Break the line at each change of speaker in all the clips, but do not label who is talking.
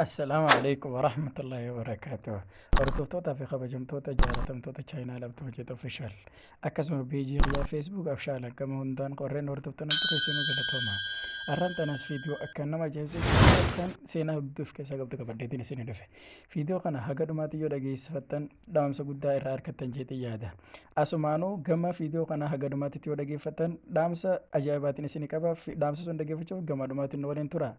Assalaamu alaikum warahmatullahi wabarakatuh. Hordoftoota fi kabajamtoota jaalatamtoota chaayinaa labtuu hojjeta ofishaal. Akkasuma peejii irraa feesbuuk abshaal akkama hundaan qorreen hordoftoota namtu keessanuu galatooma. Arraan tanas fiidiyoo akka nama ajaa'ibsiisu kan seenaa hedduu of keessaa qabdu qabaddeetiin isin dhufe. Fiidiyoo kana haga dhumaatti yoo dhageessifattan dhaamsa guddaa irraa argattan jeetii yaada. Asumaanuu gama fiidiyoo kana haga dhumaatti yoo dhageeffattan dhaamsa ajaa'ibaatiin isin qaba. Dhaamsa sun dhageeffachuuf gama dhumaatti nu waliin tura.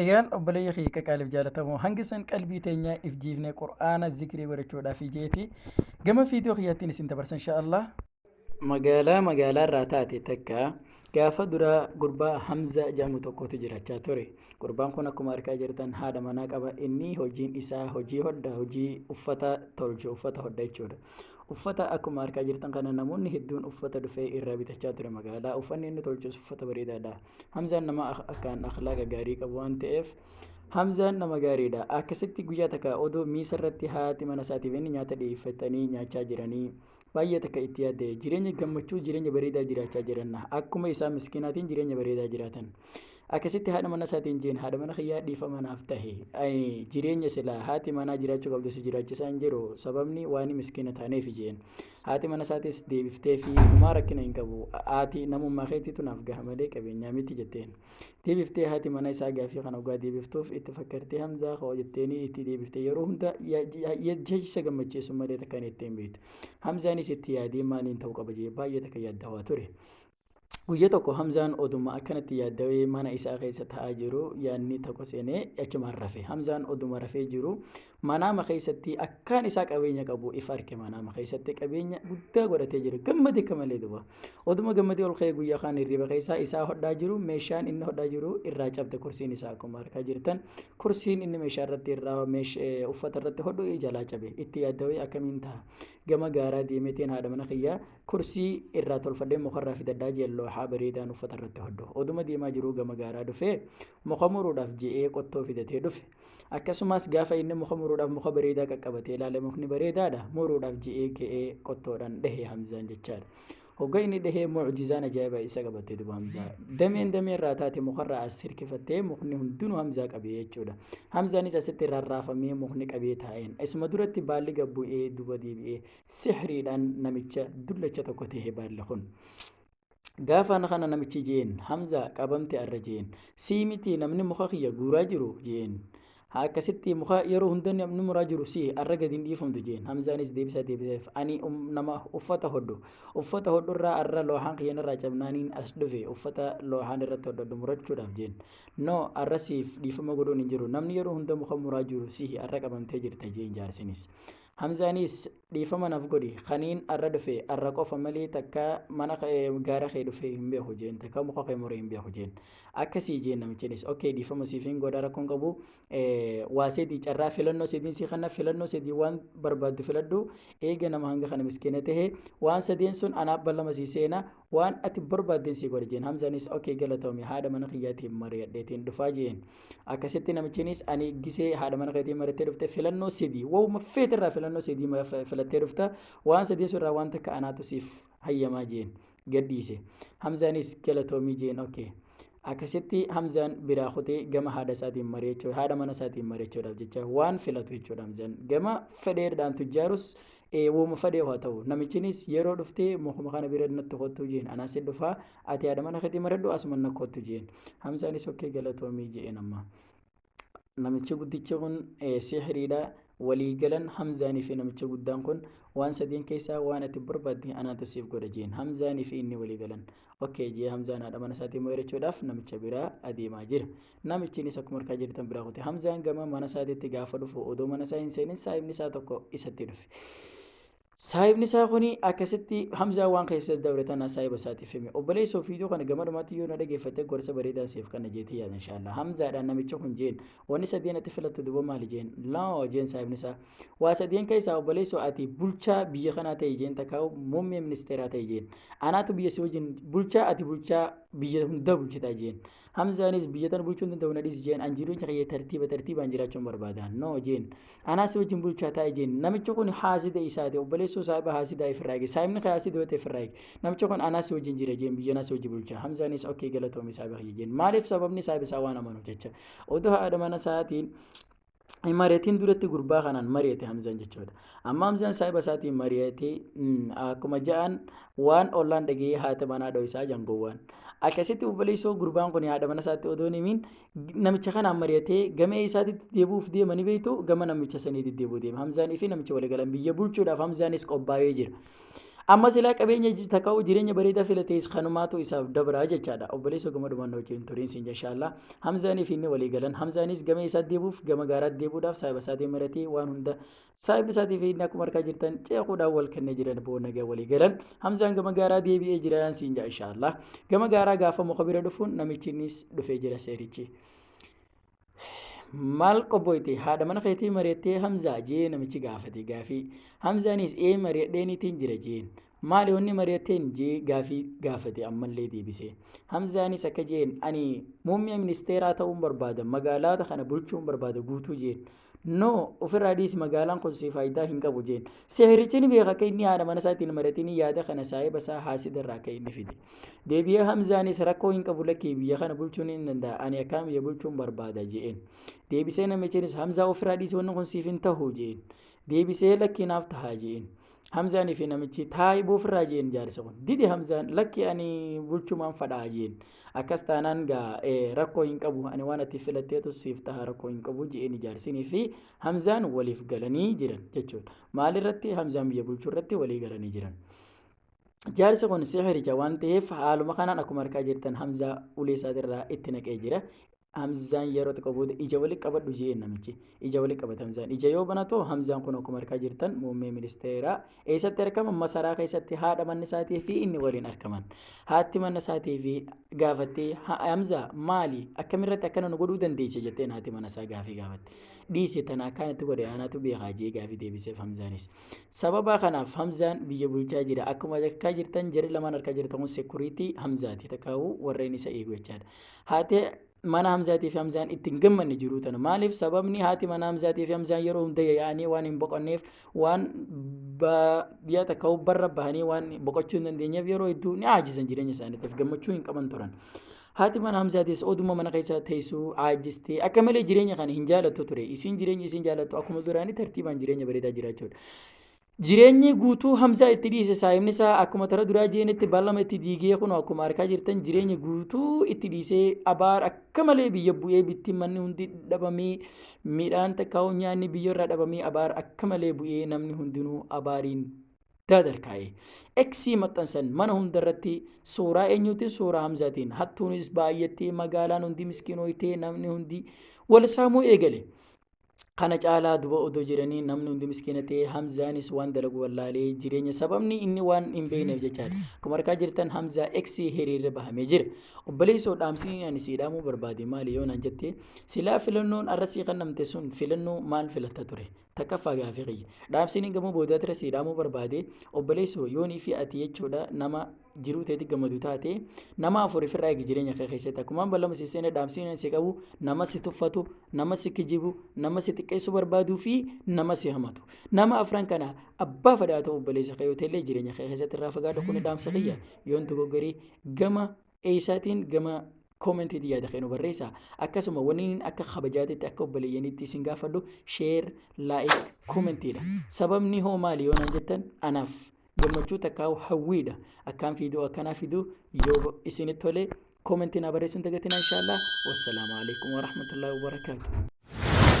Egaan obboleeyya kiyya qaqaaliif jaalatamoo hangi san qalbii teenyaa if jiifnee qur'aana zikrii godhachuudhaaf ijeeti gama fiidiyoo kiyyattiin isin dabarsa inshaallah. Magaalaa magaalaa irraa taate takka gaafa duraa gurbaa Hamza jedhamu tokkotu jiraachaa ture. Gurbaan kun akkuma argaa jirtan haadha manaa qaba. Inni hojiin isaa hojii hodha hojii uffata tolchu uffata hodha jechuudha. Uffata akkuma argaa jirtan kana namoonni hedduun uffata dhufee irraa bitachaa ture magaalaa. Uffanni inni tolchus uffata bareedaadha. Hamzaan nama akkaan akhlaaqa gaarii qabu waan ta'eef Hamzaan nama gaariidha. Akkasitti guyyaa takka odoo miisa irratti haati mana isaatiif inni nyaata dhiyeeffatanii nyaachaa jiranii baay'ee takka itti yaadde jireenya gammachuu jireenya bareedaa jiraachaa jiran akkuma isaa miskinaatiin jireenya bareedaa jiraatan. Akkasitti haadha mana isaatiin jeen haadha mana kiyyaa dhiifama naaf tahe jireenya silaa haati manaa jiraachuu qabdu si jiraachisaa hin jiru sababni waan miskina taaneef jeen. Haati mana isaatis deebifteefii, Homaa rakkina hin qabu. Ati namummaa keetiitu naaf gaha malee qabeenyaa miti jetteen. Deebiftee haati mana isaa gaafii kana ogaa deebiftuuf itti fakkartee Hamzaa koo jetteenii itti deebifte yeroo hunda jecha gammachiisu malee takka jettee hin beektu. Hamzaanis itti yaadee maaliin ta'uu qaba jee baay'ee takka yaaddawaa ture. Guyya tokko Hamzaan oduma akkanatti yaaddawee mana isaa keessa ta'aa jiru yaadni tokko seenee achumaan rafe. Hamzaan oduma rafee jiru manaama keessatti akkaan isaa qabeenya qabu if arke manaama keessatti qabeenya guddaa godhatee jira. Gammade akka malee duba. Oduma gammadee ol ka'ee guyyaa kaan hirriba keessaa isaa hodhaa jiru meeshaan inni hodhaa jiru irraa cabde kursiin isaa akkuma harkaa jirtan kursiin inni meeshaa irratti irraa uffata irratti hodhu jalaa cabe itti yaaddawee akkamiin ta'a gama gaaraa deemeetiin haadha mana kiyyaa Kursii irraa tolfadhee mukarraa fidadhaa jeen looxaa bareedaan uffata irratti hodhu. Oduma deemaa jiruu gama gaaraa dhufee muka muruudhaaf je'ee qottoo fidatee dhufe. Akkasumas gaafa inni muka muruudhaaf muka bareedaa qaqqabatee ilaale mukni bareedaadha muruudhaaf je'ee ka'ee qottoodhaan dhahee Hamzaan jechaadha. Hogga inni dhahee mucjizaan ajaa'ibaa isa qabattee duba Hamzaa. Dameen damee irraa taate mukarraa as hirkifattee mukni hundinuu Hamzaa qabee jechuudha. Hamzaanis asitti rarraafamee mukni qabee taa'een. Isuma duratti baalli gabbu'ee duba deebi'ee sihriidhaan namicha dullacha tokko tahe baalli kun. Gaafaan kana namichi jeen Hamzaa qabamte arra jeen sii miti namni muka kiyya guuraa jiru jeen akkasitti muka yeroo hunda namni muraa jiru sii arra gadi hin dhiifamtu jeen Hamzaanis deebisaa deebiseef ani nama uffata hodhu uffata hodhu irraa arra loohaan kiyyan irraa cabnaaniin as dhufe uffata loohaan irratti hodhadhu murachuudhaaf jeen no arra siif dhiifama godhuun hin jiru namni yeroo hunda muka muraa jiru sii arra qabamtee jirta jeen jaarsinis. Hamzaanis dhiifama naf godhi kaniin arra dhufe arra qofa malee takka mana gaara kee dhufe hin beeku jeen takka muka kee muree hin beeku jeen akkasii jeen namichinis ok dhiifama siif hin godha rakkoon qabu waa sedii carraa filannoo sediin sii kanna filannoo sedii waan barbaaddu filadhu eega nama hanga kana miskiina tahe waan sadeen sun anaaf ballama sii seena waan ati barbaaddeen sii godha jeen hamzaanis ok galatoomi haadha mana kiyyaatiin mari'adheetiin dhufaa jeen Akkasitti namichinis ani gisee haadha mana keetii marattee dhufte filannoo sidii wauma feete irraa filannoo sidii filattee dhufta waan sadii irraa waan takka anaatu siif hayyamaa jeen gadhiise. Hamzaanis galatoomii jeen oke. Akkasitti Hamzaan biraa kutee gama haadha isaatiin mari'achuu haadha mana isaatiin mari'achuudhaaf jecha waan filatu jechuudha Hamzaan gama fedheedhaan tujjaarus wooma fedhee haa ta'u namichinis yeroo dhuftee mukuma kana bira natti kottuu jeen anaas dhufaa Ati haadha mana keetii maradhu asuma na kottu jeen. Hamzaanis okkee galatoomii jeen amma. Namichi guddichi kun sihiriidha. Walii galan Hamzaanii fi namichi guddaan kun waan sadeen keessaa waan ati barbaadde anaatu siif godha jeen. Hamzaanii fi inni walii galan. Okkee jee Hamzaan haadha mana isaatii mo'eerachuudhaaf namicha biraa adeemaa jira. Namichiinis akkuma harkaa jirtan biraa kute. Hamzaan gama mana isaatiitti gaafa dhufu odoo mana isaa hin seenin saayibni isaa tokko isatti dhufe. Saahibni isaa kuni akkasitti Hamzaa waan keessa dabre tana saahiba isaatiif hime. Obboleessa ofiituu kana gama dhumaatti yoo na dhageeffatte gorsa bareedaan siif kanna jeetee yaada inshaallah. Hamzaadhaan namicha kun jeen wanni sadeen ati filattu duba maali jeen laa jeen saahibni isaa. Waa sadeen keessaa obboleessa ati bulchaa biyya kanaa ta'e jeen takkaa muummee ministeeraa ta'e jeen. Anaatu biyya si wajjin bulchaa ati bulchaa biyya hundaa bulchitaa jeen. Hamzaanis biyya tana bulchuun danda'u na dhisi jeen an jireenya kiyya tartiiba tartiibaan jiraachuun barbaada. No jeen. Anaa si wajjin bulchaa taa'e jeen. Namichi kun haasida isaati obboleessoo saahiba haasidaa ifirraa eege. Saahibni kee haasida yoo ta'e ifirraa eege. Namichi kun anaa si wajjin jira jeen biyya anaa si wajjin bulchaa. Hamzaanis okkee galatoomi saahiba kiyya jeen. Maaliif sababni saahiba isaa waan amanuuf jecha. Odoo haadha mana isaatiin hin mari'atiin duratti gurbaa kanaan mari'ate Hamzaan jechuudha. Amma Hamzaan saahiba isaatiin mari'ate akkuma ja'an waan ollaan dhaga'ee haati manaa dho'isaa jangowwaan. Akkasitti obboleessoo gurbaan kun haadha mana isaatti odoo himiin namicha kanaan mari'atee gama isaatitti deebi'uuf deema ni beektu gama namicha sanii deddeebi'uu deema. Hamzaan fi namicha waliigalan biyya bulchuudhaaf Hamzaanis qophaa'ee jira. Amma silaa qabeenya ji- takka hoo jireenya bareedaa filatees kanumaatu isaaf dabraa jechaadha. Obboleessa gama dhumaan na wajjin turiin siin jashaallah. Hamzaanii fi inni walii galan. Hamzaanis gama isaa deebuuf gama gaaraatti deebuudhaaf saahiba isaatiin maratee waan hunda saahibni isaatii fi inni akkuma arkaa jirtan ceekuudhaan wal kennee jiran boo nagaa walii galan. Hamzaan gama gaaraa deebi'ee jiraan siin jaa inshaallah. Gama gaaraa gaafa muka bira dhufuun namichinis dhufee jira seerichi. maal qobboyte haadha mana keetii mari'attee hamzaa jee namichi gaafate gaafii hamzaanis ee mari'adheeniitiin jira jeen maali wanni mari'atteen jee gaafii gaafate ammallee deebise hamzaanis akka jeen ani muummee ministeeraa ta'uun barbaada magaalaata kana bulchuun barbaada guutuu jeen no ofirraa dhiisi magaalaan kun si faayidaa hin qabu jeen sihirichi ni beeka akka inni haadha mana isaatiin mari'atiin yaada kana saahiba isaa haasidarraa akka inni fide deebi'ee hamzaanis rakkoo hin qabu lakkii biyya kana bulchuun hin danda'a ani akkaan biyya bulchuun barbaada je'een deebisee namichinis hamzaa ofirraa dhiisee wanni kun siif hin tahu je'een deebisee lakkii naaf tahaa je'een hamzaanii fi namichi taa'ibuu ofirraa je'een jaarsa kun dide hamzaan lakkii ani bulchumaan fadhaa je'een akkas taanaan gaa rakkoo hin qabu ani waan ati filatteetu siif taha rakkoo hin qabu je'een jaarsinii fi hamzaan waliif galanii jiran jechuudha maalirratti hamzaan biyya bulchuu irratti walii galanii jiran. jaarsi kun sihiricha waan ta'eef haaluma kanaan akkuma argaa jirtan hamzaa ulee isaatirraa itti naqee jira hamzaan yeroo xiqqoo booda ija walitti qabadhu jeen namichi ija walitti qabata hamzaan ija yoo banatu hamzaan kun akkuma argaa jirtan muummee ministeeraa eessatti argama masaraa keessatti haadha manni isaatii fi inni waliin argaman haatti manna isaatii fi gaafattee "Ha- hamzaa maali akkamirratti akkana nu godhuu dandeesse jetteen haati mana isaa gaafii gaafatte dhiise tana akkaan itti godhe anaatu beekaa jee gaafii deebiseef hamzaanis Sababa kanaaf Hamzaan biyya bulchaa jira. Akkuma arkaa jirtan jarri lamaan arkaa jirtan kun sekuriitii Hamzaati takkaawuu warreen isa eegu jechaadha. Haati mana Hamzaatii fi Hamzaan itti hin gammanne jiruu tana. Maaliif sababni haati mana Hamzaatii fi Hamzaan yeroo hunda yaa'anii waan hin boqonneef waan baadiyyaa takka barra bahanii waan boqochuu hin dandeenyeef yeroo hedduu ni aajisan jireenya isaaniitiif gammachuu hin qaban turan. Haati mana Hamzaatis oduma mana keessa teessu caajjiste. Akka malee jireenya kana hin jaalattu ture. Isiin jireenya isiin jaalattu akkuma duraanii tartiibaan jireenya bareedaa jiraachuudha. Jireenyi guutuu Hamzaa itti dhiise saayimni isaa akkuma tara duraa jeenetti ballama itti diigee kun akkuma arkaa jirtan jireenya guutuu itti dhiisee abaar akka malee biyya bu'ee bittiin manni hundi dhabamee midhaan takkaa'uu nyaanni biyya irraa dhabamee abaar akka malee bu'ee namni hundinuu abaariin gaadar kaa'e. X maxxansan mana hundarratti suuraa eenyuutiin suuraa Hamzaatiin hattuunis baay'attee magaalaan hundi miskiinooytee namni hundi wal saamuu eegale. Kana caalaa duba odoo jiranii namni hundi miskiina ta'e Hamzaanis waan dalagu wallaalee jireenya sababni inni waan hin beekneef jechaadha. Akkuma argaa jirtan Hamzaa X hiriirri bahamee jira. Obboleessoo dhaamsii ani sii dhaamuu barbaade maali yoo naan jette silaa filannoon arra sii kennamte sun filannoo maal filatta ture? Takkaffaa gaafii kiyya. Dhaamsiin gamoo boodaa tira sii dhaamuu barbaade obboleessoo yoonii fi ati jechuudha nama jiruu teeti gammadu taate nama afuriif irraa eegi jireenya kee keessatti akkumaan ballama si seene dhaamsiin si qabu nama si tuffatu nama si kijibu nama si xiqqeessuu barbaaduu fi nama si hamatu nama afran kana abbaa fadhaa ta'u obboleessa kee yoo ta'ellee jireenya kee keessatti irraa fagaadhu kun dhaamsa kiyya yoon dogoggorii gama eeysaatiin gama comment ti yaada keenu barreessa akkasuma waniin akka kabajaatitti akka obboleeyyanitti isin gaafadhu share like comment dha sababni hoo maali yoo naan jettan anaaf gammachuu takkaa hawwiidha akkaan fiidoo akkanaa fiduu yoo isinitti tole comment naa barreessuun dagatinaa inshaallah wassalaamu alaikum warahmatullahi wabarakaatu